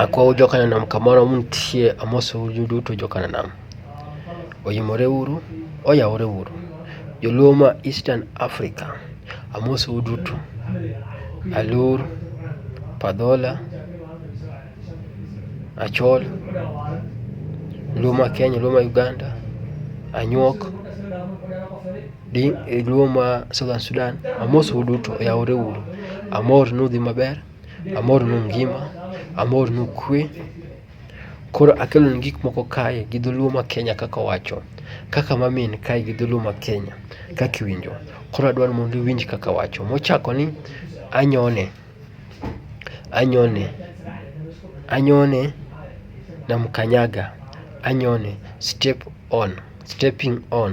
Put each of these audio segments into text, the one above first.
Akwou jokanam kamoro muntie amosou uduto jokanam. Oimore uru, oyawore uru. Joluo ma Eastern Africa amosou uduto. Alur, padhola, achol, luo ma Kenya, luo ma Uganda, anyuok, luo ma Southern Sudan amosou uduto, oyawore uru. Amor ni udhi maber. Amor ni un ngima, amor ni ukwe. Koro akelonu gik moko kae gi dholuo ma Kenya kaka owacho. Kaka ma min kae gi dholuo ma Kenya kaka iwinjo. Koro adwaro ni mondo iwinj kaka awacho. Mochako ni anyone, anyone, anyone namkanyaga, anyone, step on, stepping on.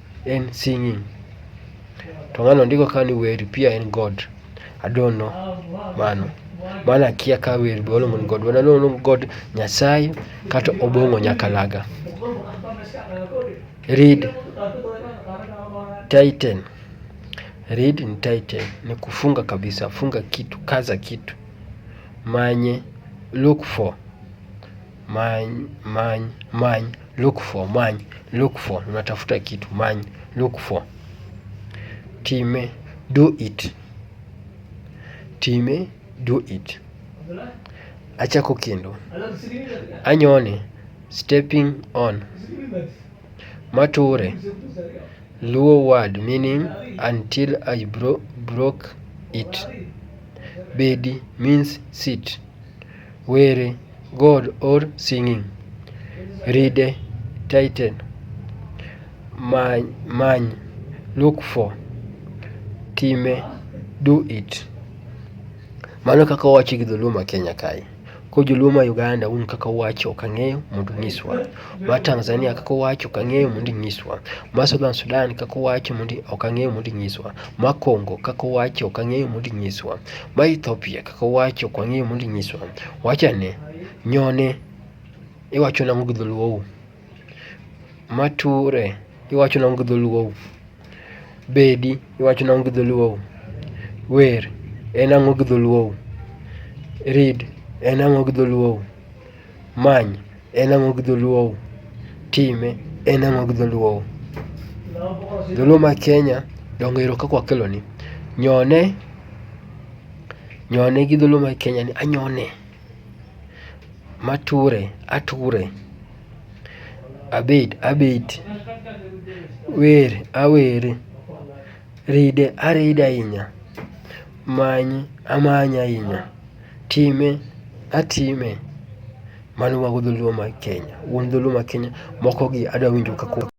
en singing to ng'ano ndiko ka ni wer pia en god I don't know mano mano akia ka wer be waluongo ni god wana luongo god nyasaye kata obong'o nyakalaga read titan read ni titan ni kufunga kabisa funga kitu kaza kitu manye look for many many many look for many look for unatafuta kitu many look for time do it time do it achako kendo anyone stepping on mature luo word meaning until i bro broke it bedi means sit Were, God or singing. Ride, tighten. Many, many, look for. Time, do it. Mano kaka owachi gi dholuo ma Kenya kae. Ko joluo ma Uganda un kaka uwacho ok ang'eyo mondo unyiswa. ma Tanzania kaka owacho ok ang'eyo mondo inyiswa, ma Southern Sudan kaka owacho mondo ok ang'eyo mondo inyiswa, ma Congo kaka owacho ok ang'eyo mondo inyiswa, ma Ethiopia kaka owacho ok ang'eyo mondo inyiswa. Wachane, nyone iwacho nang'o gi dholuou? Mature iwacho nang'o gi dholuou? Bedi iwacho nang'o gi dholuou? Wer en ang'o gi dholuou? Read en ang'o gi dholuou? Many, en ang'o gi dholuow? Time, en ang'o gi dholuow? Dholuo ma Kenya, donge ero kaka wakeloni. Nyone, nyone gi dholuo ma Kenya ni anyone. Mature, ature. Abet, abet. Wer, awere. Ride, aride ahinya. Many, amanye ahinya. Time atime. Mano mago dholuo mag Kenya. Wuon dholuo mag Kenya moko gi adwa winjo ka koro.